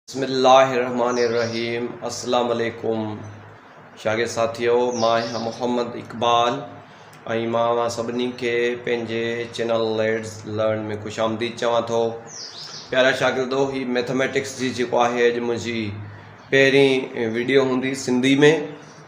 بسم الله الرحمٰن الرحيم السلام عليڪم شاگرد ساٿيو مان آهيان محمد اقبال ۽ مان اوهان سڀني کي پنهنجي چينل ليٽس لرن ۾ خوش آمديد چوان ٿو پيارا شاگردو هي ميٿاميٽڪس جي جيڪو آهي اڄ منهنجي پهرين ويڊيو هوندي سنڌي ۾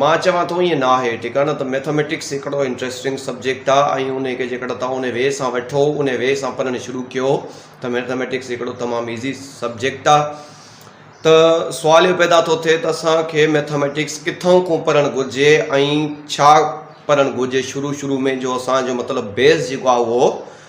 مان چوان ٿو ائين ناهي، ڇڪاڻ ته ميٿاميٽڪس هڪڙو انٽريسٽنگ سبجيڪٽ آ ۽ انهي کي جيڪڏهن توهان انهي وي سان وٺو، انهي وي سان پڙهڻ شروع ڪيو ته ميٿاميٽڪس هڪڙو تمام ايزي سبجيڪٽ آ. ته سوال اهو پيدا ٿو ٿئي ته اسان کي ميٿاميٽڪس ڪٿان کون پڙهڻ گهرجي ۽ ڇا پڙهڻ گهرجي شروع شروع ۾ جو اسان جو مطلب بيس جيڪو آ اهو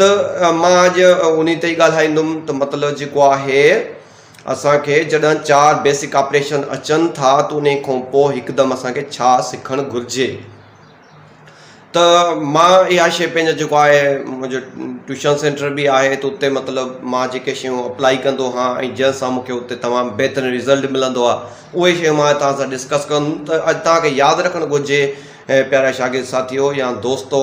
ته مان اڄ انهي تي ئي ڳالهائيندم ته مطلب جيڪو آهي اسان کي جڏهن چار بيسڪ آپريشن اچن ٿا ته انهي کان پوء هڪدم اسان کي ڇا سکڻ گهرجي ته مان اها شيء پنهنجا جيڪو آهي منهنجو ٽيوشن سينٽر به آهي ته اتي مطلب مان جيڪي شيون اپلائي ڪندو آهيان ۽ جنهن سان مون کي اتي تمام بهترين رزلٽ ملندو آهي اهي شيون مان توهان سان ڊسڪس ڪندم ته اڄ توهان کي ياد رکڻ گهرجي پيارا شاگرد ساٿيو يا دوستو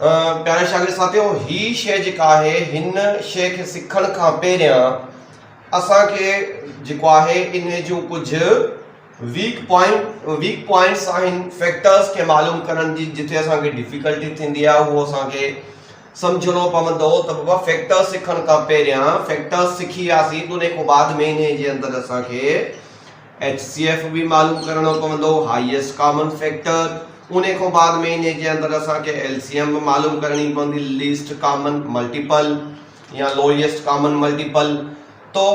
پيارا شاگرد ساٿيو هي شئي جيڪا آهي هن شئي کي سکڻ کان پهريان اسان کي جيڪو آهي ان جون ڪجهه ويڪ پوائنٽ ويڪ پوائنٽس آهن فيڪٽرس کي معلوم ڪرڻ جي جتي اسان کي ڊفيڪلٽي ٿيندي آهي اهو اسان کي سمجھڻو پوندو ته بابا فيڪٽر سکڻ کان پهريان فيڪٽر سکي وياسين ان کان بعد ۾ ان جي اندر اسان کي ايڇ سي ايف به معلوم ڪرڻو پوندو، هائيسٽ ڪامن فيڪٽر، انهي کان بعد مهيني جي اندر اسان کي ايل سي ايم به معلوم ڪرڻي پوندي، ليسٽ ڪامن ملٽيپل يا لوئيسٽ ڪامن ملٽيپل، تو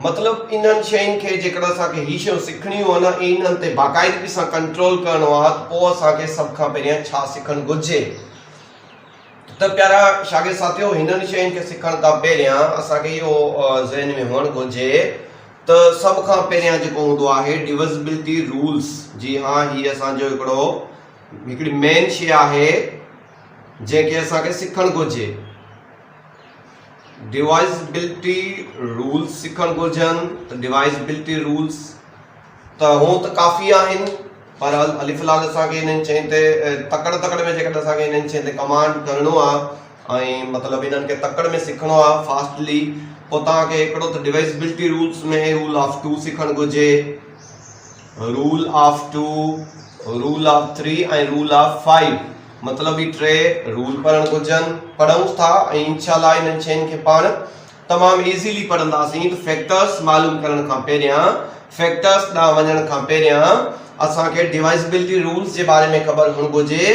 مطلب انهن شين کي جيڪڏهن اسان کي هي شيون سکڻيون آهن ۽ انهن تي باقاعدگي سان ڪنٽرول ڪرڻو آهي ته پوء اسان کي سڀ کان پهريان ڇا سکڻ گهرجي؟ ته پيارا شاگرد ساٿيو هنن شين کي سکڻ کان پهريان اسان کي اهو ذهن ۾ هئڻ گهرجي ته سڀ کان پهريان جيڪو هوندو آهي ڊوزبلٽي رولز جي ها هي اسان جو هڪڙو هڪڙي مين شي آهي جنهن کي اسان کي سکڻ گهرجي ڊوائزبلٽي رولز سکڻ گهرجن ته ڊوائزبلٽي رولز ته هو ته ڪافي آهن بهرحال علي فلحال اسان کي انهن شين تي تڪڙ تڪڙ ۾ جيڪڏهن اسان کي انهن شين تي ڪمانڊ ڪرڻو آ ۽ مطلب انهن کي تڪڙ ۾ سکڻو آ فاسٽلي پوء توهان کي هڪڙو ته divisibility rules ۾ rule of two سکڻ گهرجي rule of two rule of three ۽ rule of five مطلب هي ٽي رول پڙهڻ گهرجن پڙهونس ٿا ۽ انشاء الله انهن شين کي پاڻ تمام ايزيلي پڙهنداسين ته فيڪٽرس معلوم ڪرڻ کان پهريان فيڪٽرس ڏانهن وڃڻ کان پهريان اسان کي ڊوائيزبلٽي رولز جي باري ۾ خبر هئڻ گهرجي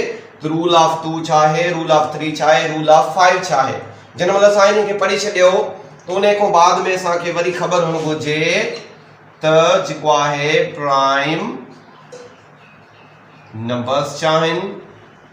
ته رول آف ٽو ڇا آهي رول آف ٿري ڇا آهي رول آف فائيو ڇا آهي جنهن مهل اسان انهن کي پڙهي ڇڏيو ته انهي کان بعد ۾ اسان کي وري خبر هئڻ گهرجي ته جيڪو آهي پرائم نمبرس ڇا آهن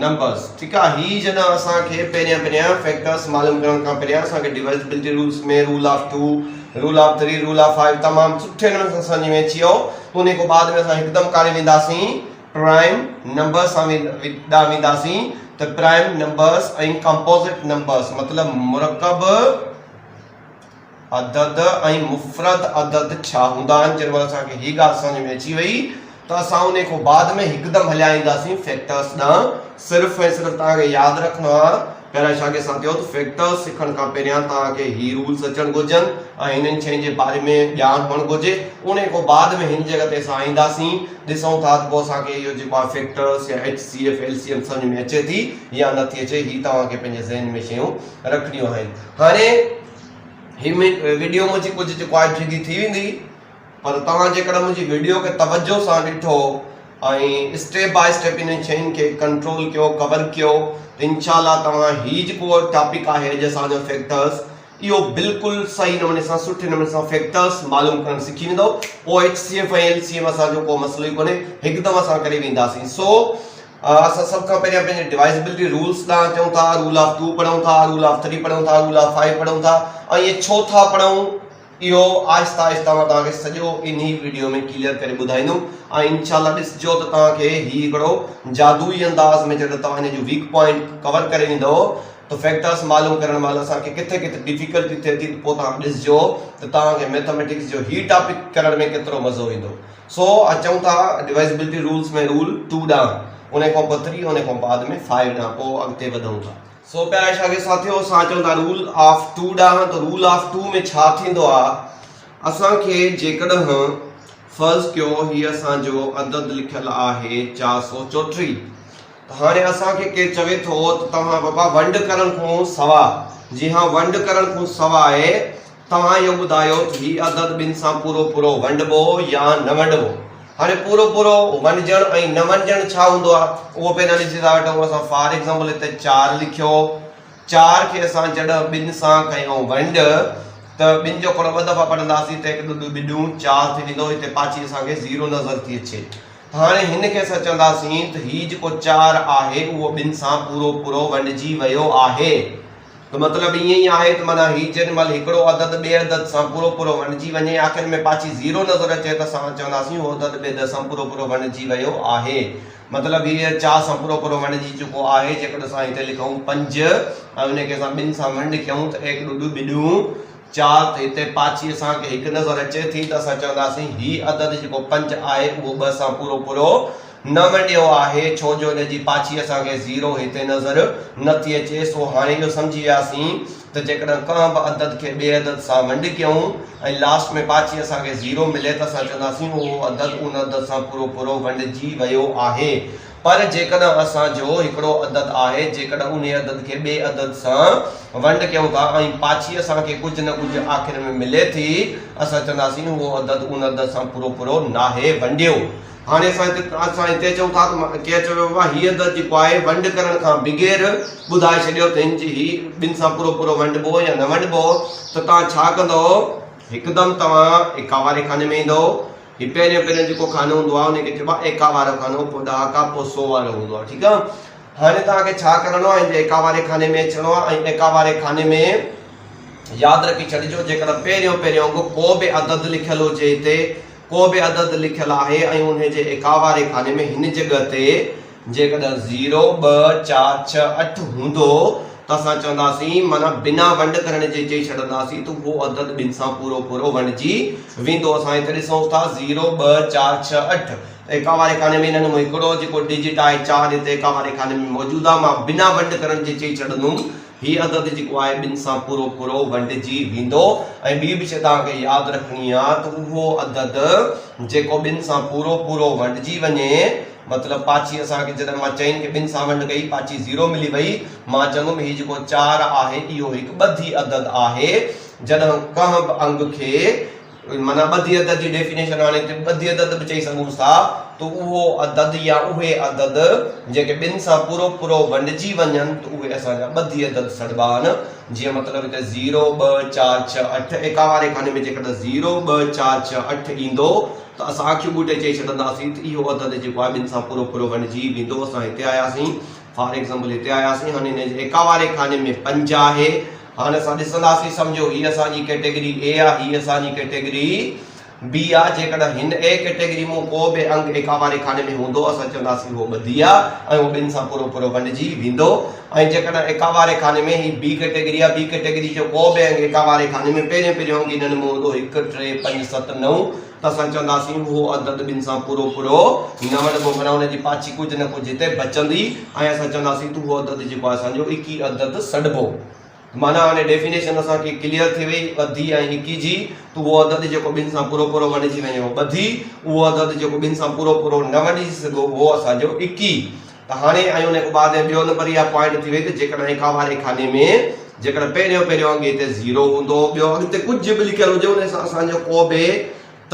نمبرز ٺيڪ آ هي جڏهن اسان کي پهريان پهريان فيڪٽرز معلوم ڪرڻ کان پهريان اسان کي divisibility rules ۾ rule of two rule of three rule of five تمام سٺي نموني سان سمجهه ۾ اچي ويو ته انهي کان بعد ۾ اسان هڪدم ڪاڏي وينداسين پرائم نمبرز سان ڏانهن وينداسين ته پرائم نمبرز ۽ ڪمپوزٽ نمبرز مطلب مرڪب عدد ۽ مفرد عدد ڇا هوندا آهن جنهن مهل اسان کي هي ڳالهه سمجهه ۾ اچي وئي ته اسان انهي کان بعد ۾ هڪدم هليا اينداسين فيڪٽرس ڏانهن صرف ۽ صرف توهان کي ياد رکڻو آهي پهريان شاگرد سان چيو ته فيڪٽرس سکڻ کان پهريان توهان کي هي رولس اچڻ گهرجن ۽ هنن شين جي باري ۾ ڄاڻ هئڻ گهرجي انهي کان بعد ۾ هن جڳهه تي اسان اينداسين ڏسون ٿا ته پوء اسان کي اهو جيڪو آهي فيڪٽرس يا H C F L C M سمجهه ۾ اچي ٿي يا نٿي اچي هي توهان کي پنهنجي ذهن ۾ شيون رکڻيون آهن هاڻي هي وڊيو منهنجي ڪجهه چ ڪوائٽ جيڏي ٿي ويندي پر توهان جيڪڏهن منهنجي وڊيو کي توجهه سان ڏٺو ۽ اسٽيپ بائي اسٽيپ انهن شين کي ڪنٽرول ڪيو ڪور ڪيو ته انشاء الله توهان هي جيڪو ٽاپڪ آهي اڄ اسان جو فيڪٽرس اهو بلڪل صحيح نموني سان سٺي نموني سان فيڪٽرس معلوم ڪرڻ سکي ويندو پوء H C F ۽ L C M اسان جو ڪو مسئلو ئي ڪونهي هڪدم اسان ڪري وينداسين سو اسان سڀ کان پهريان پنهنجي ڊوائزبلٽي رولز ڏانهن اچون ٿا، رول آف ٽو پڙهون ٿا، رول آف ٿري پڙهون ٿا، رول آف فائيو پڙهون ٿا ۽ اهي ڇو ٿا پڙهون اهو آهستي آهستي مان توهان کي سڄو انهي وڊيو ۾ ڪليئر ڪري ٻڌائيندم ۽ انشاء الله ڏسجو ته توهان کي هي هڪڙو جادوئي انداز ۾ جڏهن توهان هن جو ويڪ پوائنٽ ڪور ڪري ويندو ته فيڪٽرز معلوم ڪرڻ مهل اسان کي ڪٿي ڪٿي ڊفيڪلٽي ٿئي ٿي ته پوء توهان ڏسجو ته توهان کي ميٿاميٽڪس جو هي ٽاپڪ ڪرڻ ۾ ڪيترو مزو ايندو. سو اچون ٿا ڊوائزبلٽي رولز ۾ رول ٽو ڏانهن، ان کان پوء ٿري، ان کان بعد ۾ فائيو ڏانهن پوء اڳتي وڌون ٿا. سو پيارا شاگرد ساٿيو اسان اچون ٿا رول آف ٽو ڏانهن ته رول آف ٽو ۾ ڇا ٿيندو آ اسان کي جيڪڏهن فرض ڪيو هي اسان جو عدد لکيل آهي چار سؤ چوٽيهه ته هاڻي اسان کي ڪير چوي ٿو ته توهان بابا ونڊ ڪرڻ کان سواء جي هان ونڊ ڪرڻ کان سواء توهان اهو ٻڌايو ته هي عدد ٻن سان پورو پورو ونڊبو يا نه ونڊبو. هاڻي پورو پورو ونڊجڻ ۽ نه ونڊجڻ ڇا هوندو آهي اهو پي نالي جي ذات ڏئون اسان فار ايگزامپل هتي چار لکيو چار کي اسان جڏهن ٻن سان ڪيون ونڊ ته ٻن جو کڻو ٻه دفعا پڙهنداسين ته هڪ ڏو ڏو ٻڏون چار ٿي ويندو هتي پاڇي اسان کي زيرو نظر ٿي اچي ته هاڻي هن کي اسان چونداسين ته هي جيڪو چار آهي اهو ٻن سان پورو پورو ونڊجي ويو آهي. ته مطلب ائين ئي آهي ته معنيٰ هي جيڏي مهل هڪڙو عدد ٻئي عدد سان پورو پورو ونڊجي وڃي آخر ۾ پاڇي زيرو نظر اچي ته اسان چونداسين اهو عدد ٻئي عدد سان پورو پورو ونڊجي ويو آهي. مطلب هيء چار سان پورو پورو ونڊجي چڪو آهي. جيڪڏهن اسان هتي لکون پنج ۽ ان کي اسان ٻن سان ونڊ ڪيون ته ايڪڙو ڏو ٻڏون. چار ته هتي پاڇي اسان کي هڪ نظر اچي ٿي ته اسان چونداسين هي عدد جيڪو پنج آهي اهو ٻه سان پورو پورو نه ونڊيو آهي ڇو جو ان جي پاڇي اسان کي زيرو هتي نظر نه ٿي اچي سو هاڻي اهو سمجهي وياسين ته جيڪڏهن ڪنهن به عدد کي ٻئي عدد سان ونڊ ڪيون ۽ لاسٽ ۾ پاڇي اسان کي زيرو ملي ته اسان چونداسين اهو عدد ان عدد سان پورو پورو ونڊجي ويو آهي پر جيڪڏهن اسان جو هڪڙو عدد آهي، جيڪڏهن انهي عدد کي ٻئي عدد سان ونڊ ڪيون ٿا ۽ پاڇي اسان کي ڪجهه نه ڪجهه آخر ۾ ملي ٿي، اسان چونداسين اهو عدد ان عدد سان پورو پورو ناهي ونڊيو. هاڻي اسان هتي اسان هتي چئون ٿا ته ڪير چيو ويو آهي هي عدد جيڪو آهي ونڊ ڪرڻ کان بغير ٻڌائي ڇڏيو ته هن جي هي ٻن سان پورو پورو ونڊبو يا نه ونڊبو ته توهان ڇا ڪندؤ؟ هڪدم توهان ايڪاواري خاني ۾ ايندؤ. هي پهريون پهريون جيڪو خانو هوندو آهي ان کي چئبو آهي ايڪا وارو خانو پوء ڏهاڪا پوء سو وارو هوندو آهي ٺيڪ آهي هاڻي توهان کي ڇا ڪرڻو آهي هن ايڪا واري خاني ۾ اچڻو آهي ۽ ايڪا واري خاني ۾ ياد رکي ڇڏجو جيڪڏهن پهريون پهريون انگ ڪو به عدد لکيل هجي هتي ڪو به عدد لکيل آهي ۽ ان جي ايڪا واري خاني ۾ هن جڳهه تي جيڪڏهن زيرو، ٻه، چار، ڇهه، اٺ هوندو ته اسان چونداسين معنيٰ بنا ونڊ ڪرڻ جي چئي ڇڏنداسين ته اهو عدد ٻن سان پورو پورو ونڊجي ويندو. اسان هت ڏسون ٿا زيرو، ٻه، چار، ڇهه، اٺ ايڪا واري خاني ۾ انهن مان هڪڙو جيڪو ڊجٽ آهي چار هت ايڪا واري خاني ۾ موجود آهي مان بنا ونڊ ڪرڻ جي چئي ڇڏندوم هي عدد جيڪو آهي ٻن سان پورو پورو ونڊجي ويندو ۽ ٻي به شي توهان کي ياد رکڻي آهي ته اهو عدد جيڪو ٻن سان پورو پورو ونڊجي وڃي مطلب پاڇي اسان کي جڏهن مان چئن کي ٻن سان ونڊ ڪئي پاڇي زيرو ملي وئي مان چوندم هي جيڪو چار آهي اهو هڪ ٻڌي عدد آهي جڏهن ڪنهن به انگ کي معنيٰ ٻڌي عدد جي ڊيفينيشن هاڻي هتي ٻڌي عدد به چئي سگهون ٿا ته اهو عدد يا اهي عدد جيڪي ٻن سان پورو پورو ونڊجي وڃن ته اهي اسان جا ٻڌي عدد سڏبا آهن. جيئن مطلب هتي زيرو، ٻه، چار، ڇهه، اٺ ايڪا واري خاني ۾ جيڪڏهن زيرو، ٻه، چار، ڇهه، اٺ ايندو ته اسان اکيون ٻوٽي چئي ڇڏنداسين ته اهو عدد جيڪو آهي ٻن سان پورو پورو ونڊجي ويندو. اسان هتي آياسين فار ايگزامپل هتي آياسين هاڻي هن جي ايڪا واري خاني ۾ پنج آهي. هاڻي اسان ڏسنداسين، سمجهو، هيء اسان جي ڪيٽيگري اي آ، هيء اسان جي ڪيٽيگري بي آ، جيڪڏهن هن اي ڪيٽيگري مون ڪو به انگ اي ڪاواري خاني ۾ هوندو، اسان چونداسين اهو ٻڌي آ ۽ اهو ٻن سان پورو پورو ونڊجي ويندو ۽ جيڪڏهن اي ڪاواري خاني ۾ هي بي ڪيٽيگري آ، بي ڪيٽيگري جو ڪو به انگ اي ڪاواري خاني ۾ پهريون پهريون انگ هن ۾ هوندو، هڪ، ٽي، پنج، ست، نو، ته اسان چونداسين، اهو عدد ٻن سان پورو پورو نه وڙهبو، معنيٰ ان جي پاڇي ڪجهه نه ڪجهه هتي بچندي ۽ اسان چونداسين ته اهو عدد جيڪو آهي اسان جو ايڪي عدد سڏبو. ته معنيٰ هاڻي ڊيفينيشن اسان کي ڪليئر ٿي وئي ٻڌي ۽ ايڪي جي ته اهو عدد جيڪو ٻن سان پورو پورو وڙهجي وڃي اهو ٻڌي، اهو عدد جيڪو ٻن سان پورو پورو نه وڙهجي سگهو اهو اسان جو ايڪي ته هاڻي ۽ انهي کان بعد ۽ ٻيو نمبر اها پوائنٽ ٿي وئي ته جيڪڏهن اها واري خاني ۾ جيڪڏهن پهريون پهريون اڳي هتي زيرو هوندو ٻيو اڳتي ڪجهه به لکيل هجي انهي سان اسان جو ڪو به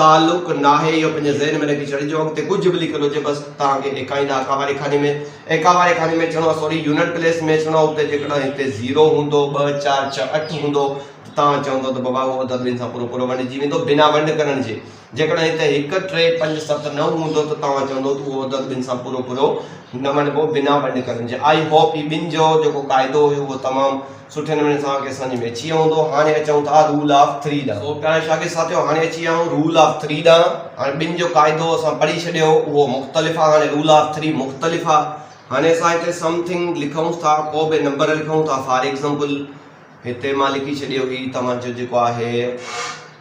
تعلق ناهي اهو پنهنجي ذهن ۾ رکي ڇڏجو اڳتي ڪجهه به لکيل هجي بس توهان کي ايڪائين اڪا واري خاني ۾ ايڪا واري خاني ۾ اچڻو آهي سوري يونٽ پليس ۾ اچڻو آهي اتي جيڪڏهن هتي زيرو هوندو ٻه چار ڇهه اٺ هوندو ته توهان چوندو ته بابا اهو عدد ٻن سان پورو پورو ونڊجي ويندو بنا ونڊ ڪرڻ جي جيڪڏهن هتي هڪ، ٽي، پنج، ست، نو هوندو ته توهان چوندو ته اهو عدد ٻن سان پورو پورو نه وڻبو بنا ونڊ ڪرڻ جي. آئي هوپ هي ٻن جو جيڪو قاعدو هيو اهو تمام سٺي نموني توهان کي سمجهه ۾ اچي ويو هوندو. هاڻي اچون ٿا رول آف ٿري ڏانهن. سو پيارا شاگرد ساٿيو هاڻي اچي ويا آهيون رول آف ٿري ڏانهن. هاڻي ٻن جو قاعدو اسان پڙهي ڇڏيو اهو مختلف آهي هاڻي رول آف ٿري مختلف آهي. هاڻي اسان هتي سم ٿنگ لکون ٿا ڪو به نمبر لکون ٿا فار ايگزامپل هتي مان لکي ڇڏيو هي توهان جو جيڪو آهي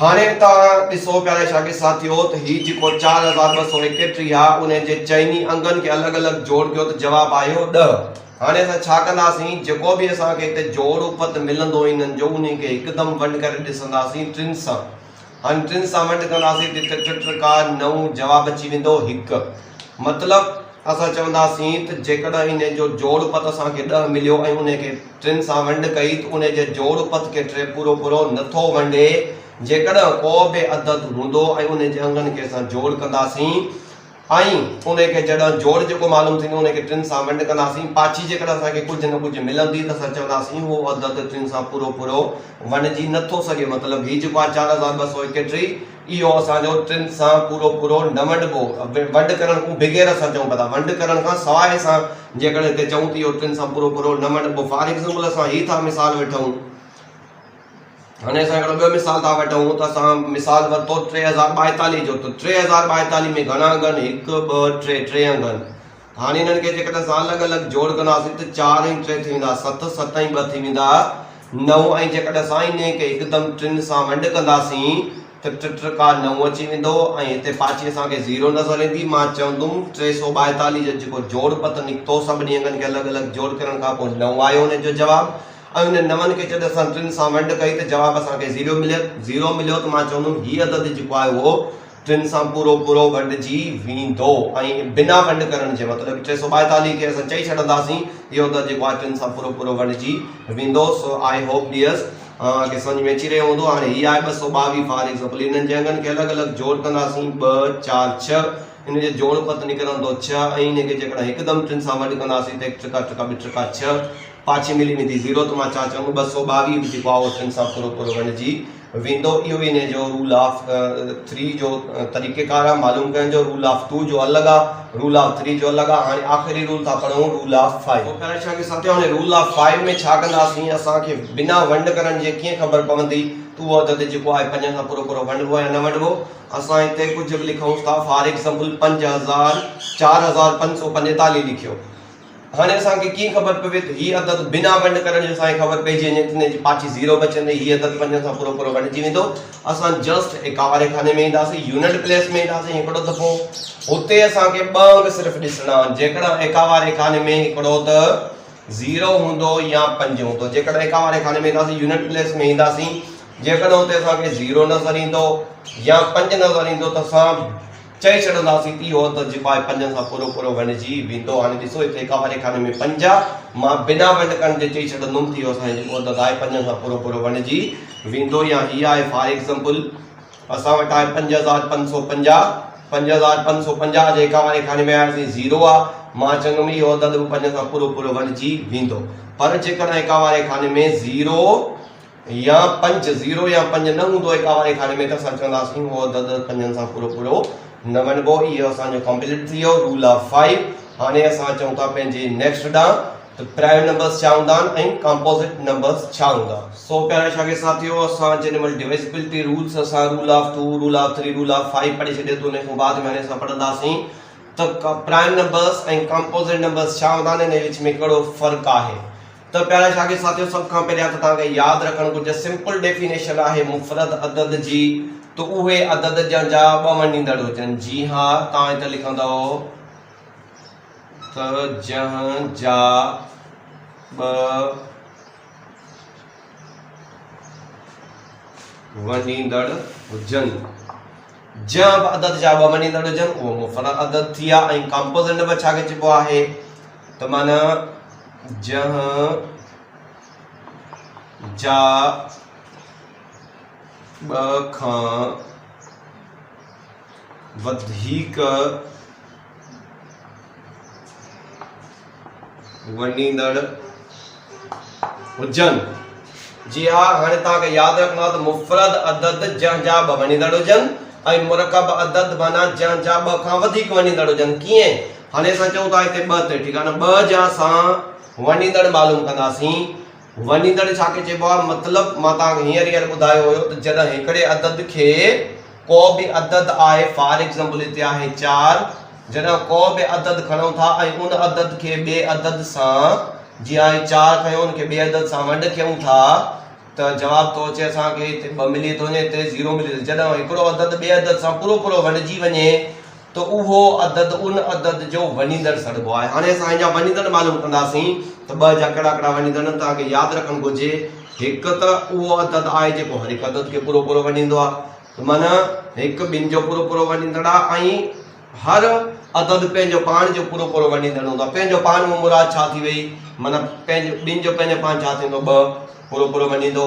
هاڻي توهان ڏسو پيارا شاگرد ساٿيو ته هي جيڪو چار هزار ٻه سؤ ايڪيٽيهه آ انهي جي چئني انگن کي الڳ الڳ جوڙ ڪيو ته جواب آيو ڏهه. هاڻي اسان ڇا ڪنداسين جيڪو به اسان کي هتي جوڙ اپت ملندو انهن جو انهي کي هڪدم ونڊ ڪري ڏسنداسين ٽن سان هاڻي ٽن سان ونڊ ڪنداسين ٽي ٽي ٽي ٽي ڪار نو جواب اچي ويندو هڪ مطلب اسان چونداسين ته جيڪڏهن انهي جو جوڙ اپت اسان کي ڏهه مليو ۽ انهي کي ٽن سان ونڊ ڪئي ته انهي جي جوڙ پت کي ٽي پورو پورو نه ٿو ونڊي، جيڪڏهن ڪو به عدد هوندو ۽ انهي جي انگن کي اسان جوڙ ڪنداسين ۽ انهي کي جڏهن جوڙ جيڪو معلوم ٿيندو انهي کي ٽن سان ونڊ ڪنداسين پاڇي جيڪڏهن اسان کي ڪجهه نه ڪجهه ملندي ته اسان چونداسين هو عدد ٽن سان پورو پورو ونڊجي نه ٿو سگهي مطلب هي جيڪو آهي چار هزار ٻه سؤ ايڪٽيهه اهو اسان جو ٽن سان پورو پورو نه ونڊبو ونڊ ڪرڻ ڪون بغير اسان چئون پتا ونڊ ڪرڻ کان سواء اسان جيڪڏهن هتي چئون ته اهو ٽن سان پورو پورو نه ونڊبو فار ايگزامپل اسان هي ٿا مثال وٺون هاڻي اسان هڪڙو ٻيو مثال ٿا وٺون ته اسان مثال ورتو ٽي هزار ٻائيتاليهه جو ته ٽي هزار ٻائيتاليهه ۾ گهڻا انگن هڪ ٻه ٽي ٽي انگن هاڻي انهن کي جيڪڏهن اسان الڳ الڳ جوڙ ڪنداسين ته چار ۽ ٽي ٿي ويندا ست، ست ۽ ٻه ٿي ويندا نو ۽ جيڪڏهن اسان انهيء کي هڪدم ٽن سان ونڊ ڪنداسين ته ٽه ٽڪا نو اچي ويندو ۽ هتي پاڇي اسان کي زيرو نظر ايندي. مان چوندم ٽي سؤ ٻائيتاليهه جو جيڪو جوڙ پت نڪتو سڀني انگن کي الڳ الڳ جوڙ ڪرڻ کان پوء نو آيو انهيء جو جواب ۽ انهن نون کي جڏهن اسان ٽن سان ونڊ ڪئي ته جواب اسان کي زيرو مليو زيرو مليو ته مان چوندم هي عدد جيڪو آيو اهو تن سان پورو پورو ونڊجي ويندو ۽ بنا ونڊ ڪرڻ جي مطلب ٽي سؤ ٻائيتاليهه کي اسان چئي ڇڏنداسين اهو ته جيڪو آهي ٽن سان پورو پورو ونڊجي ويندو سو آئي هوپ ڊيئرس اوهان کي سمجهه ۾ اچي رهيو هوندو هاڻي هي آهي ٻه سؤ ٻاويهه فار ايگزامپل انهن جي انگن کي الڳ الڳ جوڙ ڪنداسين ٻه چار ڇهه ان جو جوڙ پت نڪرندو ڇهه ۽ ان کي جيڪڏهن هڪدم ٽن سان ونڊ ڪنداسين ته هڪ ٽڪا ٽڪا ٻه ٽڪا ڇهه پاڇي ملي ويندي زيرو ته مان ڇا چوندو ٻه سؤ ٻاويهه به جيڪو آهي اهو ٽن سان پورو پورو ونڊجي ويندو اهو انهي جو رول آف ٿري جو طريقه ڪار آ معلوم ڪرڻ جو رول آف ٽو جو الڳ آ رول آف ٿري جو الڳ آ هاڻي آخري رول ٿا پڙهون رول آف فائيو او پيرا ڇهه کي ستيو هاڻي رول آف فائيو ۾ ڇا ڪندا سين اسان کي بنا ونڊ ڪرڻ جي ڪيئن خبر پوندي ته اهو عدد جيڪو آهي پنجن سان پورو پورو ونڊبو يا نه ونڊبو اسان هتي ڪجهه به لکون ٿا فار ايگزامپل پنج هزار چار هزار پنج سو پنجيتاليهه لکيو هاڻي اسان کي ڪيئن خبر پوي ته هي عدد بنا ونڊ ڪرڻ جي اسان کي خبر پئجي وڃي ته ان جي پاڇي زيرو بچندي هي عدد پنجن سان پورو پورو ونڊجي ويندو اسان جسٽ ايڪاواري خاني ۾ اينداسين يونٽ پليس ۾ اينداسين هڪڙو دفعو هتي اسان کي ٻه انگ صرف ڏسڻا آهن جيڪڏهن ايڪاواري خاني ۾ هڪڙو ته زيرو هوندو يا پنج هوندو جيڪڏهن ايڪاواري خاني ۾ اينداسين يونٽ پليس ۾ اينداسين جيڪڏهن هتي اسان کي زيرو نظر ايندو يا پنج نظر ايندو ته اسان چئي ڇڏنداسين ته اهو ته جي پاء پنجن سان پورو پورو وهنڊجي ويندو. هاڻي ڏسو هتي اڪاباري خاني ۾ پنج آ، مان بنا ونڊ ڪرڻ جي چئي ڇڏندم ته اهو اسان جي جيڪو عدد آهي پنجن سان پورو پورو وهنڊجي ويندو يا هي آهي فار ايگزمپل اسان وٽ آهي پنج هزار پنج سؤ پنجاهه، پنج هزار پنج سؤ پنجاهه جي اڪاباري خاني ۾ آياسين زيرو آ، مان چوندم اهو عدد به پنجن سان پورو پورو وهنڊجي ويندو پر جيڪڏهن اڪاباري خاني ۾ زيرو، يا پنج زيرو يا پنج نه هوندو ايڪا واري کاڏي ۾ ته اسان چونداسين هو عدد پنجن سان پورو پورو نه وڃبو اهو اسان جو ڪمپليٽ ٿي ويو رول آف فائيو هاڻي اسان اچون ٿا پنهنجي نيڪسٽ ڏانهن ته پرائم نمبرز ڇا هوندا آهن ۽ ڪمپوزٽ نمبرز ڇا هوندا سو پيارا شاگرد ساٿيو اسان جيڏي مهل ڊويزبلٽي رولز اسان rule of two rule of three rule of five پڙهي ڇڏيو ته ان کان بعد ۾ هاڻي اسان پڙهنداسين ته پرائم نمبرز ۽ ڪمپوزٽ نمبرز ڇا هوندا آهن ۽ ان جي وچ ۾ ڪهڙو فرق آهي ته پيارا شاگرد ساٿيو سڀ کان پهريان ته توهان کي ياد رکڻ گهرجي سمپل ڊيفينيشن آهي مفرد عدد جي ته اهي عدد جن جا ٻه مڃيندڙ هجن جي ها توهان هتي لکندؤ ته جنهن جا ٻه وڃيندڙ هجن جنهن به عدد جا ٻه مڃيندڙ هجن اهو مفرد عدد ٿي ويا ۽ ڪامپوزنڊ به ڇا کي چئبو آهي ته معنيٰ جنهن جا ٻه کان وڌيڪ وڃيندڙ هجن. جي ها، هاڻي توهان کي ياد رکڻو آهي ته مفرد عدد جنهن جا ٻه وڃيندڙ هجن ۽ مرڪب عدد معنيٰ جنهن جا ٻه کان وڌيڪ وڃيندڙ هجن. ڪيئن؟ هاڻي اسان چئون ٿا هتي ٻه تي، ٺيڪ آهي نه، ٻه جا اسان وڃيندڙ معلوم ڪنداسين. وڃيندڙ ڇا کي چئبو آهي مطلب مان توهان کي هينئر هينئر ٻڌايو هيو ته جڏهن هڪڙي عدد کي ڪو به عدد آهي فار ايگزامپل هتي آهي چار جڏهن ڪو به عدد کڻون ٿا ۽ ان عدد کي ٻئي عدد سان جي آهي چار کنيو ان کي ٻئي عدد سان ونڊ ڪيون ٿا ته جواب ٿو اچي اسان کي هتي ٻه ملي ٿو وڃي هتي زيرو ملي ٿو جڏهن هڪڙو عدد ٻئي عدد سان پورو پورو ونڊجي وڃي ته اهو عدد ان عدد جو وڃيندڙ سڏبو آهي. هاڻي اسان هن جا وڃيندڙ معلوم ڪنداسين ته ٻه جا ڪهڙا ڪهڙا وڃيندڙ آهن. توهان کي ياد رکڻ گهرجي هڪ ته اهو عدد آهي جيڪو هر هڪ عدد کي پورو پورو وڃيندو آهي ته معنيٰ هڪ ٻن جو پورو پورو وڃيندڙ آهي ۽ هر عدد پنهنجو پاڻ جو پورو پورو وڃيندڙ هوندو آهي. پنهنجو پاڻ مان مراد ڇا ٿي وئي معنيٰ پنهنجو ٻن جو پنهنجو پاڻ ڇا ٿيندو ٻه پورو پورو وڃيندو.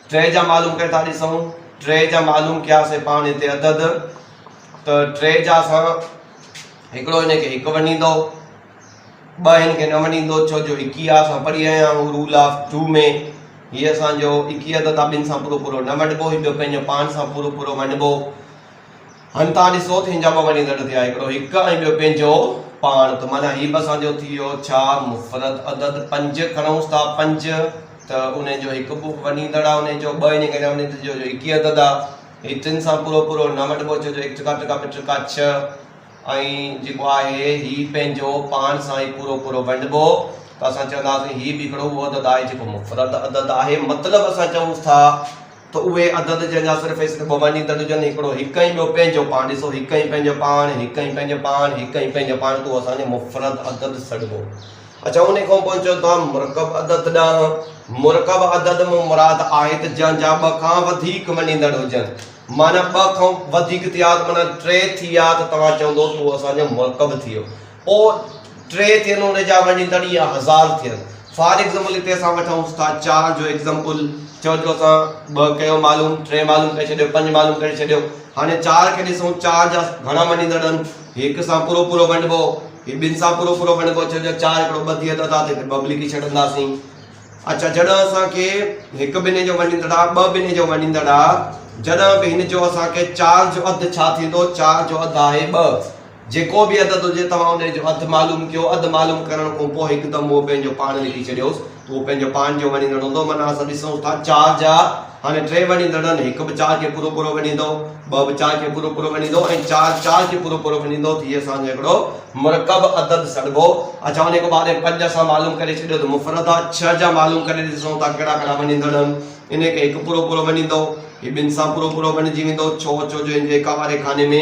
ٽري جا معلوم ڪري ٿا ڏسون ٽري جا معلوم ڪياسي پاڻ هتي عدد ته ٽي جا اسان هڪڙو هن کي هڪ ونڊيندو ٻه هن کي نه ونڊيندو ڇو جو هڪ هي اسان پڙهي آيا آهيون رول آف ٽو ۾ هي اسان جو اڪي عدد ٻن سان پورو پورو نه ونڊبو هي ٻيو پنهنجو پاڻ سان پورو پورو ونڊبو هن تان ڏسو ته هن جا ٻه وڏين ڳڍ ٿيا، هڪڙو هڪ ۽ ٻيو پنهنجو پاڻ، ته معنيٰ هي به اسان جو ٿي ويو، ڇا مفرد عدد پنج کڻئونس ٿا، پنج ته انهي جو هڪ به وڏين ڳڍ آهي، انهي جو ٻه انهي ڪري وڃي ٿو جو هڪ ئي عدد آهي، هي ٽن سان پورو پورو نه وڍبو، ڇو جو هڪ ٽڪا ٽڪا ٻه ٽڪا ڇهه ۽ جيڪو آهي هي پنهنجو پاڻ سان ئي پورو پورو ونڊبو، ته اسان چونداسين هي به هڪڙو اهو عدد آهي جيڪو مفرد عدد آهي، مطلب اسان چئونس ٿا ته اهي عدد جنهن جا صرف ۽ صرف ٻه مڃيندڙ هجن، هڪڙو هڪ ۽ ٻيو پنهنجو پاڻ. ڏسو، هڪ ۽ پنهنجو پاڻ، هڪ ۽ پنهنجو پاڻ، هڪ ۽ پنهنجو پاڻ تون اسان جو مفرد عدد سڏبو. اچا انهي کان پوء اچون ٿا مرڪب عدد ڏانهن. مرڪب عدد مان مراد آهي ته جنهن جا ٻه کان وڌيڪ مڃيندڙ هجن. معنيٰ ٻه کان وڌيڪ ٿيا ته معنيٰ ٽي ٿي ويا ته توهان چوندو تون اسان جو مرڪب ٿي ويو. پوء ٽي ٿين ان جا وڃين ته ڏينهن هزار ٿين فار ايگزمپل هتي اسان وٺون ٿا چار جو ايگزمپل چئو جو اسان ٻه ڪيو معلوم ٽي معلوم ڪري ڇڏيو پنج معلوم ڪري ڇڏيو هاڻي چار کي ڏسون چار جا گهڻا وڃين ٿا ڏن هڪ سان پورو پورو ونڊبو هي ٻن سان پورو پورو ونڊبو چئو جو چار هڪڙو ٻه ٿي ويو ته هتي ٻه به لکي ڇڏنداسين اچا جڏهن اسان کي هڪ بني جو وڃيندڙ آ ٻه بني جو وڃيندڙ آ جڏهن به هن جو اسان کي چار جو اڌ ڇا ٿيندو چار جو اڌ آهي ٻه جيڪو به عدد هجي، توهان انهيء جو اڌ معلوم ڪيو. اڌ معلوم ڪرڻ کون پوء هڪدم اهو پنهنجو پاڻ لکي ڇڏيوس ته اهو پنهنجو پاڻ جو وڻيندڙ هوندو. معنيٰ اسان ڏسون ٿا چار جا هاڻي ٽي وڻيندڙن، هڪ به چار کي پورو پورو وڻيندو، ٻه به چار کي پورو پورو وڻيندو ۽ چار چار کي پورو پورو وڻيندو ته هي اسان جو هڪڙو مرڪب عدد سڏبو. اڇا انهيء کان بعد پنج اسان معلوم ڪري ڇڏيو ته مفرد آ. ڇهه جا معلوم ڪري ڏسون ٿا ڪهڙا ڪهڙا وڻيندڙ آهن. انهيء کي هڪ پورو پورو وڻيندو، هي ٻن سان پورو پورو وڻجي ويندو. ڇو؟ ڇو جو هن جي اڪا واري خاني ۾.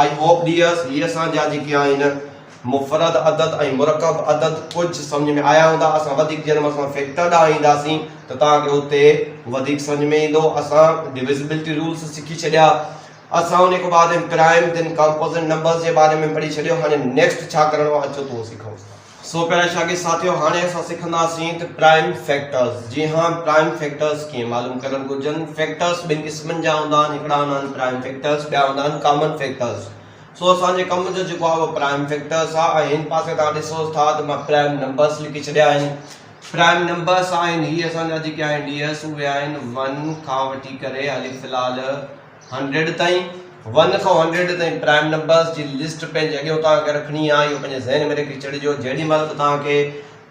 آء هوپ ڊيئرس هي اسان جا جيڪي آهن مفرد عدد ۽ مرڪب عدد ڪجهه سمجهه ۾ آيا هوندا اسان وڌيڪ جنھن مان اسان فيڪٽر ڏانهن اينداسين ته توهان کي اتي وڌيڪ سمجهه ۾ ايندو اسان ڊويزبلٽي رولس سکي ڇڏيا اسان ان کان بعد پرائم ڌن ڪامپوزٽ نمبرس جي باري ۾ پڙهي ڇڏيو هاڻي نيڪسٽ ڇا ڪرڻو آهي اچو تون سکئون ٿا. سو پيارا شاگرد ساٿيو هاڻي اسان سکنداسين ته پرائم فيڪٽرز جي ها پرائم فيڪٽرز ڪيئن معلوم ڪرڻ گهرجن فيڪٽرز ٻن قسمن جا هوندا آهن هڪڙا هوندا آهن پرائم فيڪٽرز ٻيا هوندا آهن ڪامن فيڪٽرز سو اسان جي ڪم جو جيڪو آهي اهو پرائم فيڪٽرز آهي ۽ هن پاسي تان ڏسو ٿا ته مان پرائم نمبرز لکي ڇڏيا آهن پرائم نمبرز آهن هي اسان جا جيڪي آهن ڊي ايس اهي آهن ون کان وٺي ڪري هلي في الحال هنڊريڊ تائين، ون کان هنڊريڊ تائين پرائم نمبرز جي لسٽ پنهنجي اڳيون توهان کي رکڻي آهي، اهو پنهنجي ذهن ۾ رکي ڇڏجو جيڏي مهل به توهان کي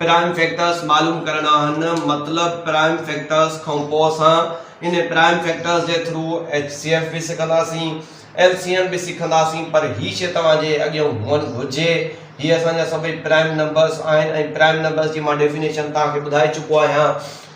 پرائم فيڪٽرز معلوم ڪرڻا آهن مطلب پرائم فيڪٽرز کان پوء اسان ان پرائم فيڪٽرز جي ٿرو ايچ سي ايف به سکنداسين ايل سي ايم به سکنداسين پر هي شي توهان جي اڳيان هئڻ گهرجي هي اسان جا سڀئي پرائم نمبرز آهن ۽ پرائم نمبرز جي مان ڊيفينيشن توهان کي ٻڌائي چڪو آهيان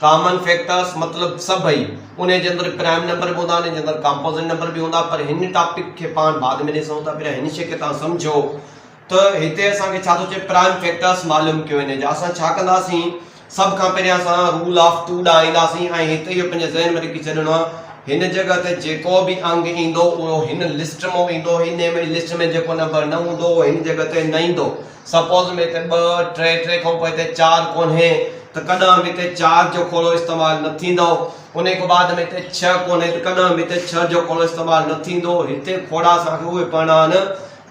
ڪامن فيڪٽرس مطلب سڀئي، انهي جي اندر پرائم نمبر به هوندا، انهي جي اندر ڪامپوزٽ نمبر به هوندا پر هن ٽاپڪ کي پاڻ بعد ۾ ڏسون ٿا پهريان هن شيء کي تهان سمجهو ته هتي اسان کي ڇا ٿو چئي پرائم فيڪٽرس معلوم ڪيو وڃي جا اسان ڇا ڪنداسين سڀ کان پهريان اسان رول آف ٽو ڏانهن اينداسين ۽ هتي اهو پنهنجي ذهن ۾ رکي ڇڏڻو آهي هن جڳهه تي جيڪو به انگ ايندو اهو هن لسٽ مون ايندو هن لسٽ ۾ جيڪو نمبر نه هوندو اهو هن جڳهه تي نه ايندو سپوز ۾ هتي ٻه، ٽي، ٽي کان پوء هتي چار ڪونهي ته ڪڏهن به هتي چار جو کوڙو استعمال نه ٿيندو. انهي کان بعد ۾ هتي ڇهه ڪونهي ته ڪڏهن به هتي ڇهه جو کوڙو استعمال نه ٿيندو. هتي کوڙا اسان کي اهي پڙهڻا آهن.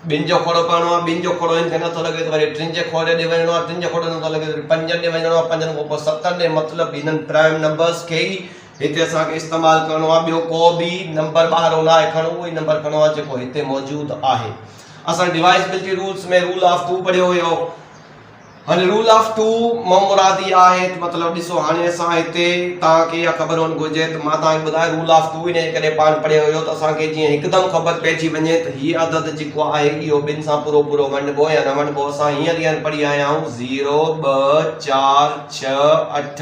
ٻن جو کوڙو پڙهڻو آهي، ٻن جو کوڙو هن کي نٿو لڳي ته وري ٽن جي کوڙي ڏي وڃڻو آهي، ٽن جو کوڙو نٿو لڳي ته وري پنجن ڏي وڃڻو آهي، پنجن کان پوء ستن ڏي مطلب هنن پرائم نمبرز کي ئي هتي اسان کي استعمال ڪرڻو آهي. ٻيو ڪو به نمبر ٻاهرون نه آهي کڻڻو اهو ئي نمبر کڻڻو آهي جيڪو هتي موجود آهي. اسان divisibility rules ۾ rule of two پڙهيو هيو. هن رول آف ٽو مان مراد اها آهي ته مطلب ڏسو هاڻي اسان هتي توهان کي اها خبر هئڻ گهرجي ته مان توهان کي ٻڌايو رول آف ٽو ان جي ڪري پاڻ پڙهيو هيو ته اسان کي جيئن هڪدم خبر پئجي وڃي ته هي عدد جيڪو آهي اهو ٻن سان پورو پورو ونڊبو يا نه ونڊبو اسان هينئر هينئر پڙهي آيا آهيون زيرو ٻه چار ڇهه اٺ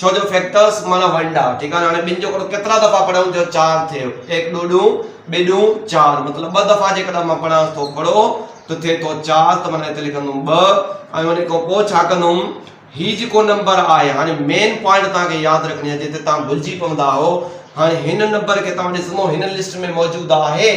ڇو جو فيڪٽرس معنيٰ ونڊا، ٺيڪ آهي نه؟ هاڻي ٻن جو ڪرو ڪيترا دفعا پڙهيون جو چار ٿيو، ايڪ ڏو ڏون، ٻه ڏون چار، مطلب ٻه دفعا جيڪڏهن مان پڙهانس ٿو ڪھڙو ته ٿئي ٿو چار ته معنيٰ هتي لکندم ٻه ۽ ان کان پوء ڇا ڪندم هي جيڪو نمبر آهي هاڻي مين پوائنٽ توهان کي ياد رکڻي آهي جتي توهان ڀلجي پوندا آهو هاڻي هن نمبر کي توهان ڏسندو هن لسٽ ۾ موجود آهي؟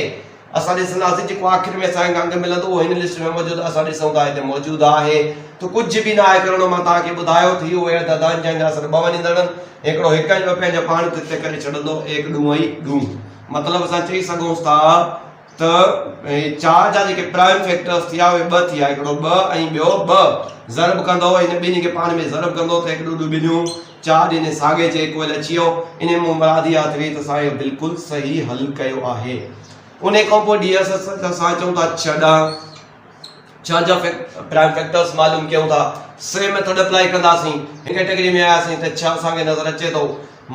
اسان ڏسنداسين جيڪو آخر ۾ اسان کي انگ ملندو اهو هن لسٽ ۾ موجود اسان ڏسون ٿا هتي موجود آهي ته ڪجهه به ناهي ڪرڻو مان توهان کي ٻڌايو ته اهو اهڙ تعداد جنهن جا اثر ٻه وڃندڙن هڪڙو هڪ ۽ ٻه پنهنجا پاڻ تي تي ڪري ڇڏندو ايڪ ڏون ۽ ڏون مطلب اسان چئي سگهون ٿا ته هي چار جا جيڪي پرائم فيڪٽرس ٿيا اهي ٻه ٿيا هڪڙو ٻه ۽ ٻيو ٻه ضرب ڪندو هن ٻنهي کي پاڻ ۾ ضرب ڪندو ته هڪ ڏون ڏون ٻنهيون چاهه ڏني ساڳي جي ڪوئل اچي ويو. انهيء مان مراد اها ٿئي ته اسان اهو بلڪل صحيح حل ڪيو آهي. انهيء کان پوء ڊي ايس ايس ته اسان چئون ٿا ڇهه ڏانهن ڇهن جا پرائم فيڪٽرز معلوم ڪيون ٿا. سي ميٿڊ اپلائي ڪنداسين. هن ڪيٽيگري ۾ آياسين ته ڇهه اسان کي نظر اچي ٿو.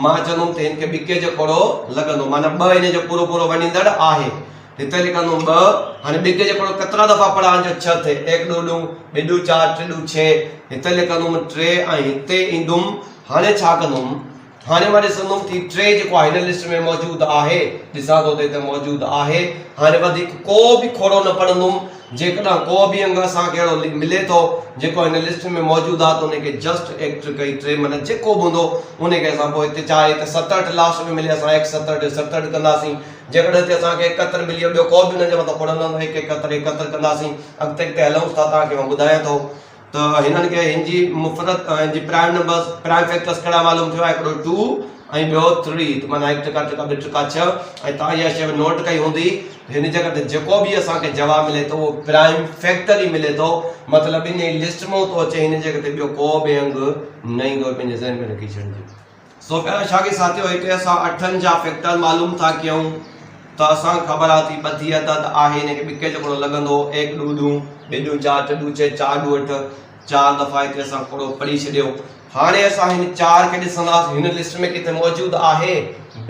مان چوندم ته هن کي ٻڪي جو ڪوڙو لڳندو. معنيٰ ٻه هن جو پورو پورو وڃيندڙ آهي. هتي لکندوم ٻه، هاڻي ٻي ڪجي پڙهو ڪترا دفعا پڙهان جو ڇهه ٿئي، ايڪ دو ڏون، ٻي ڏون چار، ٽي ڏون ڇهه، هتي لکندوم ٽي ۽ هتي ايندوم، هاڻي ڇا ڪندوم؟ هاڻي مان ڏسندوم ته هي ٽي جيڪو آهي هن لسٽ ۾ موجود آهي، ڏسان ٿو ته هتي موجود آهي، هاڻي وڌيڪ ڪو به کوڙو نه پڙهندوم، جيڪڏهن ڪو به انگ اسان کي اهڙو ملي ٿو جيڪو هن لسٽ ۾ موجود آهي ته ان کي جسٽ ايڪٽ ڪئي ٽي معنيٰ جيڪو به هوندو ان کي اسان پوء هتي چاهي هتي ستهٺ لاسٽ ۾ ملي اسان ايڪ ستهٺ ستهٺ ڪنداسين، جيڪڏهن ٿي اسان کي هڪ قطر ملي ويو ٻيو ڪو به هن جي مٿان ڪونه لهندو هڪ هڪ قطر هڪ قطر ڪنداسين اڳتي اڳتي هلون ٿا تان کي مان ٻڌايان ٿو ته هنن کي هن جي مفرت ۽ هن جي پرائم نمبرس پرائم فيڪٽرس ڪهڙا معلوم ٿيو آهي هڪڙو ٽو ۽ ٻيو ٿري ته معنيٰ هڪ ٽڪا ٽڪا ٻه ٽڪا ڇهه ۽ تان اها شيء نوٽ ڪئي هوندي هن جي ڪري جيڪو به اسان کي جواب ملي ٿو اهو پرائم فيڪٽر ئي ملي ٿو مطلب ان لسٽ مان ٿو اچي هن جي اڳتي ٻيو ڪو به انگ نه ايندو پنهنجي ذهن ۾ رکي ڇڏجي سوڀيان شاهه کي ساٿيو هيٺ اسان اٺن جا فيڪٽر معلوم ٿا ڪيون ته اسان کي خبر آهي ٿي ٻڌي عدد آهي ان کي ٻڪي جو ڪوڙو لڳندو ايڪ ڏو ڏون ٻي ڏون چار ٽي ڏون چئي چار ڏون اٺ چار دفعا هتي اسان ڪوڙو پڙهي ڇڏيو هاڻي اسان هن چار کي ڏسنداسين هن لسٽ ۾ ڪٿي موجود آهي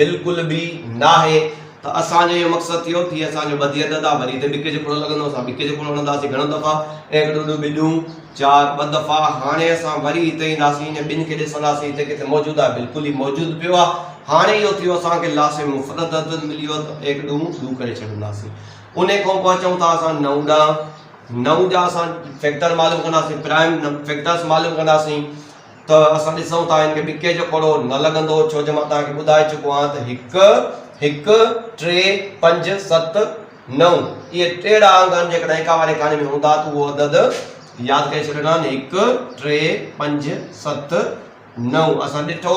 بلڪل به ناهي ته اسان جو اهو مقصد ٿيو ٿي اسان جو ٻڌي اڌ ادا وري ته ٻڪي جو ڪوڙو لڳندو اسان ٻڪي جو ڪوڙو هڻنداسين گهڻو دفعا ايڪ ڏو ڏو ٻي ڏون چار ٻه دفعا هاڻي اسان وري هتي اينداسين ان ٻن کي ڏسنداسين هتي ڪٿي موجود آهي بلڪل هي موجود پيو آهي هاڻي اهو ٿيو اسان کي لاسي مفرد عدد ملي ويو ته ايڪ ڏون ڏون ڪري ڇڏنداسين ان کان پوء اچون ٿا اسان نو ڏانهن نو جا اسان فيڪٽر معلوم ڪنداسين پرائم فيڪٽرس معلوم ڪنداسين ته اسان ڏسون ٿا هن کي ٻڪي جو ڪوڙو نه لڳندو ڇو جو مان توهان کي ٻڌائي چڪو آهيان ته هڪ، هڪ، ٽي، پنج، ست، نو اهي ٽيڙا انگ آهن جيڪڏهن ايڪا واري ڪهاڻي ۾ هوندا ته اهو عدد ياد ڪري ڇڏيو نه هڪ، ٽي، پنج، ست، نو اسان ڏٺو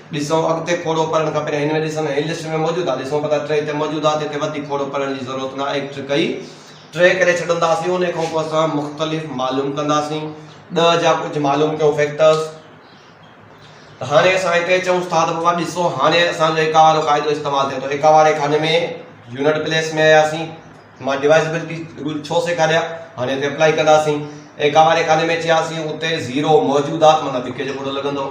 ڏسون اڳتي کوڙو پڙهڻ کپي نه هن ۾ ڏسن هي لسٽ ۾ موجود آ ڏسون پتا ٽي تي موجود آ تي تي وڌيڪ کوڙو پڙهڻ جي ضرورت نه آهي ٽي ڪئي ٽي ڪري ڇڏنداسين انهي کان پوء اسان مختلف معلوم ڪنداسين ڏهه جا ڪجهه معلوم ڪيون فيڪٽرز ته هاڻي اسان هتي چئون ٿا ته بابا ڏسو هاڻي اسان جو ايڪا وارو قاعدو استعمال ٿئي ٿو ايڪا واري خاني ۾ يونٽ پليس ۾ آياسين مان ڊوائزبلٽي رول ڇو سيکاريا هاڻي اتي اپلائي ڪنداسين ۽ ڪاواري خاني ۾ ٿياسين اتي زيرو موجودات معنيٰ ڌڪي جو کوڙو لڳندو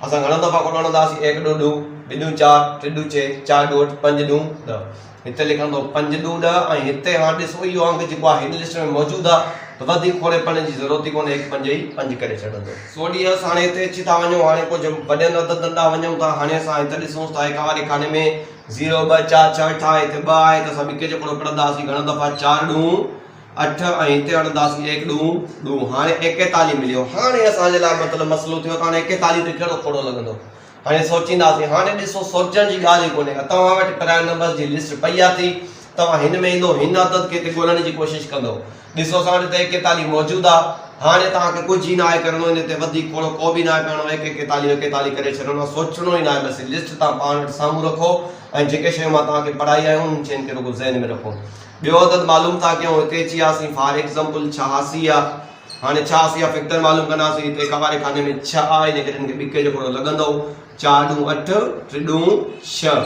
اسان گهڻو دفعا کوڙو هڻندا هئاسين ايڪ ڏو ڏون ٻه ڏون چار ٽي ڏون چه چار ڏون اٺ پنج ڏون ڏهه هتي لکندو پنج ڏون ڏهه ۽ هتي هاڻ ڏسو اهو انگ جيڪو آهي هن لسٽ ۾ موجود آهي ته وڌيڪ کوڙي پڙهڻ جي ضرورت ئي ڪونهي هڪ پنج ئي پنج ڪري ڇڏندو. سو ڏيس هاڻي هتي اچي ٿا وڃون هاڻي ڪجهه وڏن عددن ڏانهن وڃون ٿا هاڻي اسان هت ڏسون ٿا ايڪاواري خاني ۾ زيرو ٻه چار ڇهه اٺ آهي هتي ٻه آهي ته اسان ٻڪي جو ڪوڙو پڙهندا هئاسين گهڻا دفعا چار ڏونهون اٺ ۽ هتي اڻندا هئاسين ايڪ ڏونهون ڏونهون هاڻي ايڪيتاليهه مليو هاڻي اسان جي لاء مطلب مسئلو ٿيو ته هاڻي ايڪيتاليهه تي ڪهڙو کوڙو لڳندو هاڻي سوچينداسين هاڻي ڏسو سوچڻ جي ڳالهه ئي ڪونهي توهان وٽ پرائم نمبرز جي لسٽ پئي آ ٿي توهان هن ۾ ايندو هن عدد کي هتي ڳولڻ جي ڪوشش ڪندو ڏسو اسان وٽ ته ايڪ ايڪتاليھ موجود آ هاڻي توهان کي ڪجھ ئي ناهي ڪرڻو ان تي وڌيڪ کوڙو ڪو به ناهي پيڻو ايڪ ايڪتاليھ ايڪتاليھ ڪري ڇڏڻو آ سوچڻو ئي ناهي بس هي لسٽ توهان پاڻ وٽ سامهون رکو ۽ جيڪي شيون مان توهان کي پڙهائي آهيون انهن شين کي رڳو ذهن ۾ رکو ٻيو عدد معلوم ٿا ڪيون هتي اچي آسين فار ايڪزمپل ڇهاسي آ هاڻي ڇهاسي جا فيڪٽر معلوم ڪنداسين هتي قواري خاني ۾ ڇهه آ ان ڪري هن کي ٻڪي جو کوڙو لڳندو چار ڏون اٺ ٽي ڏون ڇهه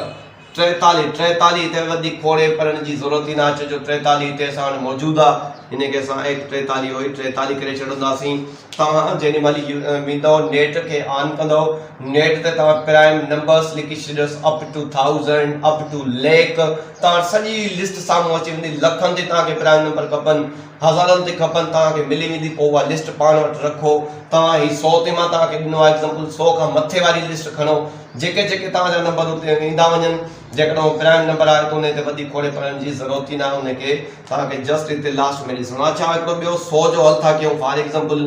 ٽيتالي، ٽيتالي هتي وڌيڪ کوڙي پڙهڻ جي ضرورت ئي ناهي ڇو جو ٽيتالي هتي اسان وٽ موجود آ ان کي اسان ايڪ ٽيتالي هوئي ٽيتالي ڪري ڇڏنداسين توهان جيڏي مهل ويندؤ نيٽ کي آن ڪندؤ نيٽ تي توهان پرائم نمبرس لکي ڇڏيوس up to thousand up to lakh توهان وٽ سڄي لسٽ سامهون اچي ويندي لکن تي توهان کي پرائم نمبر کپن هزارن تي کپن توهان کي ملي ويندي پوء اها لسٽ پاڻ وٽ رکو توهان هي سؤ تي مان توهان کي ڏنو آهي ايگزامپل سؤ کان مٿي واري لسٽ کڻو جيڪي جيڪي توهان جا نمبر اتي ايندا وڃن جيڪڏهن اهو پرائم نمبر آهي ته انهي تي وڌيڪ کوڙي پڙهڻ جي ضرورت ئي ناهي انهي کي توهان کي جسٽ اتي لاسٽ ۾ ڏسڻو آهي اڇا هڪڙو ٻيو سؤ جو حل ٿا ڪيون فار ايگزامپل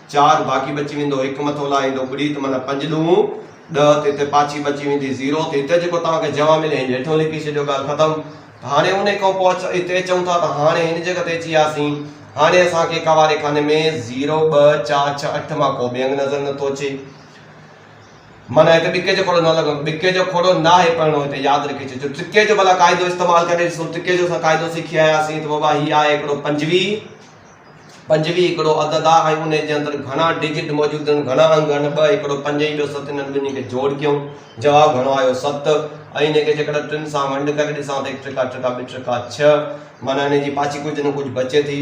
چار باقي بچي ويندو هڪ مٿو لاهيندو ٻڙي ته معنيٰ پنج ڏون ڏهه ته هتي پاڇي بچي ويندي زيرو ته هتي جيڪو توهان کي جواب ملي هن هيٺيون لکي ڇڏيو ڳالهه ختم ته هاڻي انهي کان پوء هتي چئون ٿا ته هاڻي هن جڳهه تي اچي وياسين هاڻي اسان کي ڪواري خاني ۾ زيرو ٻه چار ڇهه اٺ مان ڪو به انگ نظر نه ٿو اچي معنيٰ هتي ٻڪي جو کوڙو نه لڳندو ٻڪي جو کوڙو ناهي پڙهڻو هتي ياد رکي ڇڏجو ٽڪي جو ڀلا قاعدو استعمال ڪري ڏسو ٽڪي جو اسان قاعدو سکي آياسين ته بابا هي آهي هڪڙو پنجويهه پنجويهه هڪڙو عدد آ ۽ انهي جي اندر گهڻا ڊجٽ موجود آهن، گهڻا انگ آهن، ٻه هڪڙو پنج ۽ ٻيو ست انهن ٻنهي کي جوڙ ڪيون، جواب گهڻو آيو ست ۽ انهي کي جيڪڏهن ٽن سان ونڊ ڪري ڏسان ته هڪ ٽڪا ٽڪا ٻه ٽڪا ڇهه معنيٰ انهي جي پاڇي ڪجهه نه ڪجهه بچي ٿي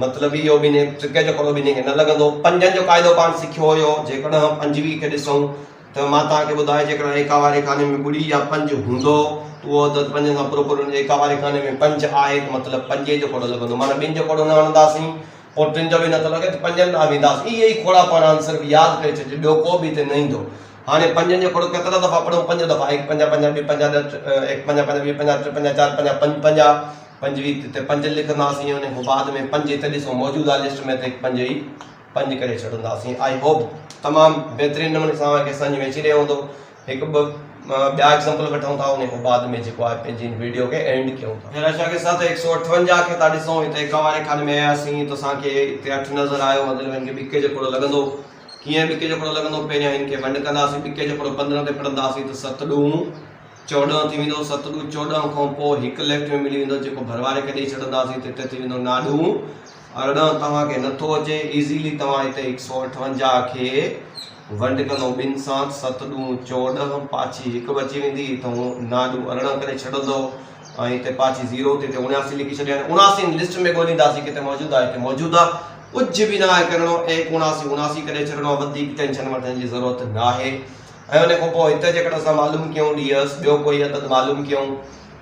مطلب اهو ٻنهي ٽڪي جو ڪرو ٻنهي کي نه لڳندو. پنجن جو قاعدو پاڻ سکيو هيو جيڪڏهن پنجويهه کي ڏسون ته مان توهان کي ٻڌايان جيڪڏهن ايڪا واري خاني ۾ ٻڙي يا پنج هوندو ته اهو عدد پنجن سان پورو ڪريو، ايڪا واري خاني ۾ پنج آهي ته مطلب پنجين جو کوڙو لڳندو معنيٰ ٻن جو کوڙو نه آڻنداسين پوء ٽن جو به نٿو لڳي ته پنجن ڏانهن وينداسين اهي ئي کوڙا پاڻ آهن صرف ياد ڪري ڇڏجي ٻيو ڪو به هتي نه ايندو هاڻي پنجن جو کوڙو ڪيترا دفعا پڙهون پنج دفعا هڪ پنج پنجاهه ٻه پنجاهه ڏهه هڪ پنجاهه پنجاهه ٻه پنجاهه ٽي پنجاهه چار پنجاهه پنج پنجاهه پنجويهه هتي پنج لکنداسين ان کان بعد ۾ پنج هتي ڏسو موجود آهي لسٽ ۾ ته هڪ پنج ئي پنج ڪري ڇڏنداسين آئي هوپ تمام بهترين نموني سان اوهان کي سمجهه ۾ اچي رهيو هوندو هڪ ٻه ٻيا ايگزامپل وٺون ٿا انهي کان بعد ۾ جيڪو آهي پنهنجي ان ويڊيو کي اينڊ ڪيون ٿا. پهريان شاگرد سان ته هڪ سؤ اٺونجاهه کي ٿا ڏسون هت ايڪا واري خاني ۾ آياسين ته اسان کي هتي اٺ نظر آيو مطلب هن کي ٻڪي جو ڪوڙو لڳندو ڪيئن ٻڪي جو ڪوڙو لڳندو پهريان هن کي ونڊ ڪنداسين ٻڪي جو ڪوڙو پندرهن تي ڦڙنداسين ته ست ڏوهون چوڏهن ٿي ويندو ست ڏوهه چوڏهن کان پوء هڪ ليفٽ ۾ ملي ويندو جيڪو ڀرواري کي ڏئي ڇڏنداسين ته هتي ٿي ويندو ناڏوهون ارڙهن توهان کي نٿو اچي ايزيلي توهان هتي هڪ سؤ اٺونجاهه کي ونڊ ڪندو ٻن سان ست ڏون چوڏهن پاڇي هڪ بچي ويندي تون ناڏو ارڙهن ڪري ڇڏندو ۽ هتي پاڇي زيرو تي هتي اڻياسي لکي ڇڏي هاڻي اڻاسي ان لسٽ ۾ ڳولينداسي ڪٿي موجود آهي هتي موجود آهي ڪجهه به ناهي ڪرڻو ايڪ اڻاسي اڻاسي ڪري ڇڏڻو وڌيڪ ٽينشن وٺڻ جي ضرورت ناهي ۽ ان کان پوء هتي جيڪڏهن اسان معلوم ڪيون ڏيهس ٻيو ڪوئي عدد معلوم ڪيون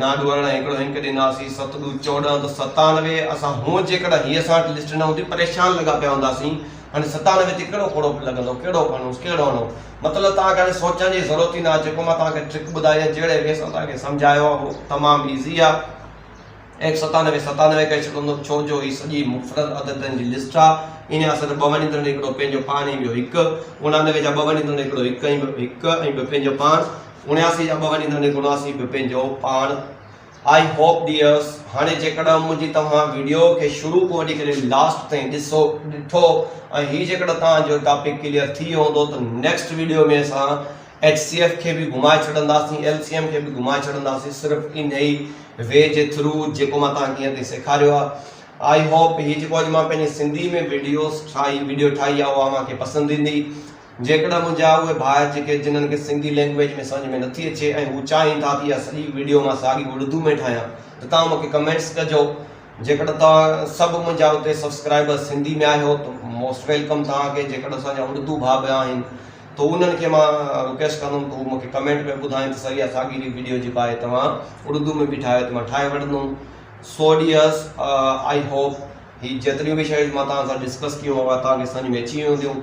نا ڏورڻ ۽ هڪڙو هنڪ ڏناسين، ست ڏو چوڏهن ته ستانوي، اسان هونء جيڪڏهن هيء اسان وٽ لسٽ نه هوندي پريشان لڳا پيا هونداسين، هاڻي ستانوي تي ڪهڙو کوڙو لڳندو، ڪهڙو کڻونس، ڪهڙو هڻون، مطلب توهان کي هاڻي سوچڻ جي ضرورت ئي نه آهي، جيڪو مان توهان کي ٽرڪ ٻڌائي يا جهڙي وي سان توهان کي سمجهايو آهي اهو تمام ايزي آهي، ايڪ ستانوي ستانوي ڪري ڇڏندو، ڇو جو هي سڄي مفرد عددن جي لسٽ آهي، انهيء اصل ۾ ٻه وڃيندڙن هڪڙو پنهنجو پاڻ ۽ ٻيو هڪ، اڻانوي جا ٻه وڃيندڙ هڪڙو هڪ ۽ ٻيو هڪ ۽ ٻيو پنهنجو پاڻ. اڻياسي جا ٻه وڃي ڌڻي گناسي به پنهنجو پاڻ آئي هوپ ڊيئرس هاڻي جيڪڏهن منهنجي توهان ويڊيو کي شروع کان وٺي ڪري لاسٽ تائين ڏسو ڏٺو ۽ هي جيڪڏهن توهان جو ٽاپڪ ڪليئر ٿي ويو هوندو ته نيڪسٽ ويڊيو ۾ اسان ايچ سي ايف کي به گهمائي ڇڏنداسين ايل سي ايم کي به گهمائي ڇڏنداسين صرف ان ئي وي جي ٿرو جيڪو مان توهان کي هيئن تائين سيکاريو آهي آئي هوپ هي جيڪو اڄ مان پنهنجي سنڌي ۾ ويڊيوز ٺاهي ويڊيو ٺاهي آهي اها اوهان کي پسند ايندي جيڪڏهن منهنجا اهي ڀاء جيڪي جنن کي سنڌي لينگويج ۾ سمجهه ۾ نٿي اچي ۽ هو چاهين ٿا ته اها سڄي ويڊيو مان ساڳي اڙدو ۾ ٺاهيان ته توهان مونکي ڪمينٽس ڪجو جيڪڏهن توهان سڀ منهنجا اتي سبسڪرائبرز سنڌي ۾ آهيو ته موسٽ ويلڪم توهان کي جيڪڏهن اسان جا اڙدو ڀاء ٻيا آهن ته انهن کي مان رڪويسٽ ڪندم ته هو مونکي ڪمينٽ ۾ ٻڌائين ته سر اها ساڳي ويڊيو جي باء توهان اڙدو ۾ به ٺاهيو ته مان ٺاهي وٺندم سو ڊيئرس آئي هوپ هي جيتريون به شيون مان توهان سان ڊسڪس ڪيون اها توهان کي سمجهه ۾ اچي ويون هونديون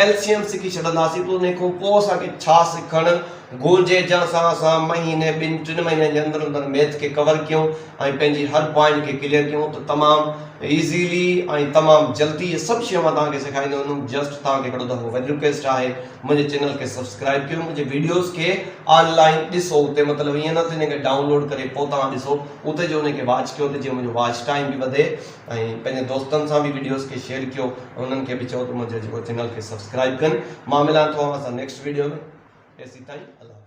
ايل سي ايم سکي ڇڏنداسين ته انهي کان پوء اسان کي ڇا سکڻ گهرجي جنهن سان اسان مهيني ٻن ٽن مهينن جي اندر اندر ميٿ کي ڪور ڪيون ۽ پنهنجي هر پوائنٽ کي ڪليئر ڪيون ته تمام ايزيلي ۽ تمام جلدي اهي سڀ شيون مان توهان کي سيکاريندو ويندم جسٽ توهان کي هڪڙو دفعو وري رڪويسٽ آهي منهنجي چينل کي سبسڪرائيب ڪيو منهنجي ويڊيوز کي آن لائين ڏسو اتي مطلب ائين نه ته انهي کي ڊائون لوڊ ڪري پوء توهان ڏسو اتي جو انهي کي واچ ڪيو ته جيئن منهنجو واچ ٽائيم به وڌي ۽ پنهنجي دوستن سان به ويڊيوز کي شيئر ڪيو ۽ انهن کي به چئو ته منهنجي جيڪو چينل کي سبسڪرائيب ڪن مان ملان ٿو اوهان سان نيڪسٽ ويڊيو ۾ تيسين تائين الله حافظ.